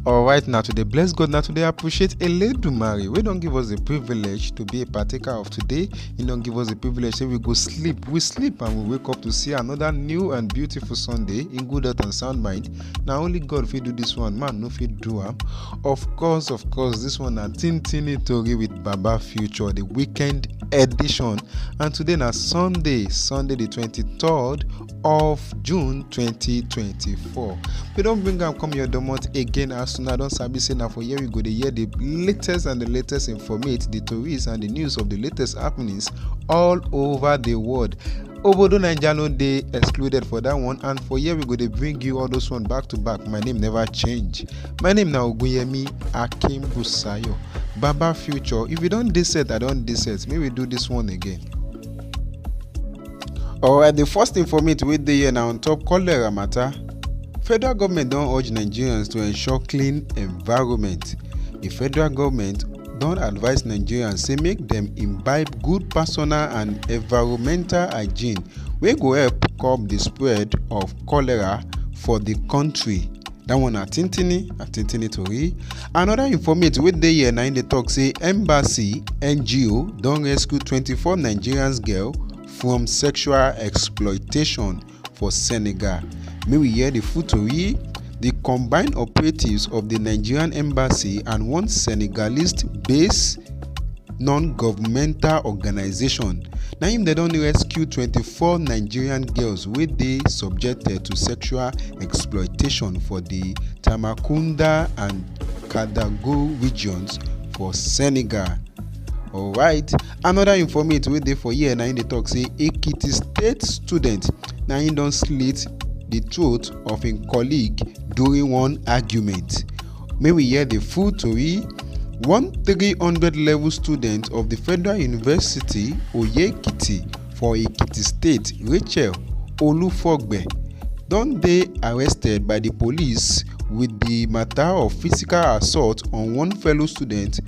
alright na to dey bless god na to dey appreciate eledumare wey don give us the privilege to be a partaker of today he don give us the privilege say we go sleep we sleep and we wake up to see another new and beautiful sunday in good health and sound mind na only god fit do this one man no fit do am of course of course this one na tintini tori with baba future the weekend edition and today na sunday sunday the 23rd of june 2024 we don bring am come your domot again as una don sabi say na for here we go dey hear the latest and the latest informate the tories and the news of the latest happenings all over the world obodo naija no dey excluded for that one and for here we go dey bring you all those one back to back my name never change my name na ogunyemi akimbusayo baba future if you don dey set i don dey set make we do this one again. Alright, the first informate wey dey here na on top cholera matter. Federal government don urge Nigerians to ensure clean environment. The federal government don advise Nigerians say make dem imbibe good personal and environmental hygiene wey go help curb the spread of cholera for the country. dat one na tintini na tintini tori anoda informate wey dey here na im dey tok say embassy ngo don rescue 24 nigerians girl from sexual exploitation for senegal make we hear di full tori di combined operatives of di nigerian embassy and one senegalese base non-governmental organisation na im dem don rescue 24 nigerian girls wey dey subjected to sexual exploitation for di tambacounda and kadago regions for senegal. alright anoda informate wey dey for here na im dey tok say ekiti state student na im don slit di throat of im colleague during one argument. May we hear the full tori. One 300 level student of the Federal University Oyekiti for Ekiti State, Rachel Olufogbe, don dey arrested by the police with the matter of physical assault on one fellow student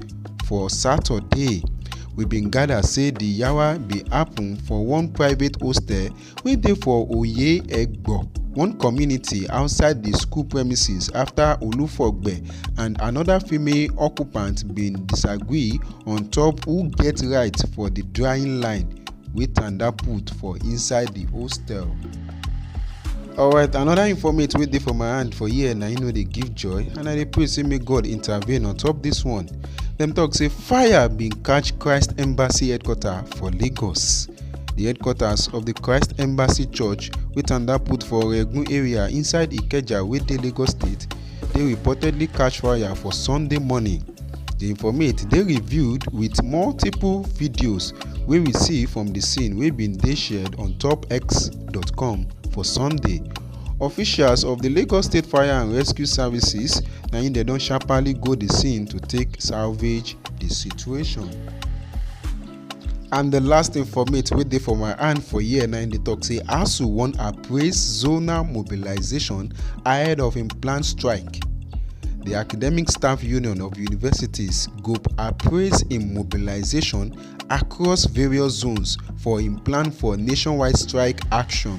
for Saturday. We bin gather say the yawa bin happen for one private hostel wey dey for oye egbo one community outside di school premises afta olufogbe and anoda female occupant bin disagree on top who get right for di drying line wey tanda put for inside di hostel. alright another informate wey dey for my hand for here na im no dey give joy and i dey pray say make god intervene on top this one dem talk say fire bin catch christ embassy headquarter for lagos di headquarters of di christ embassy church wey tanda put for oregun area inside ikeja wey dey lagos state dey reportedly catch fire for sunday morning di informate dey reviewed wit multiple videos wey we see from di scene wey bin dey shared on top x.com for sunday officials of di lagos state fire and rescue services na im dem don sharparly go di scene to take salvage di situation. and the last informate wey dey for my hand for here na im dey talk say asu wan appraise zonal mobilization ahead of im planned strike the academic staff union of universities go appraise im mobilization across various zones for im plan for nationwide strike action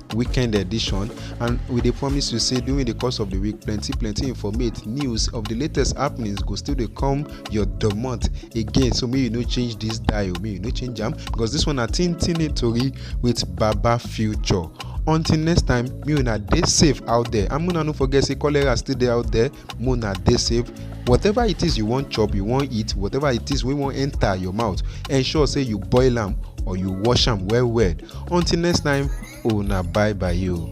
weekend edition and we dey promise you say during the course of the week plenty plenty informate news of the latest happenings go still dey come your domot again so make you no change this dial make you no change am because this one na tin tin tori with baba future until next time me una dey safe out there and una no forget say cholera still dey out there mona dey safe whatever it is you wan chop you wan eat whatever it is wey wan enter your mouth ensure say you boil am or you wash am well well until next time una bye bye o.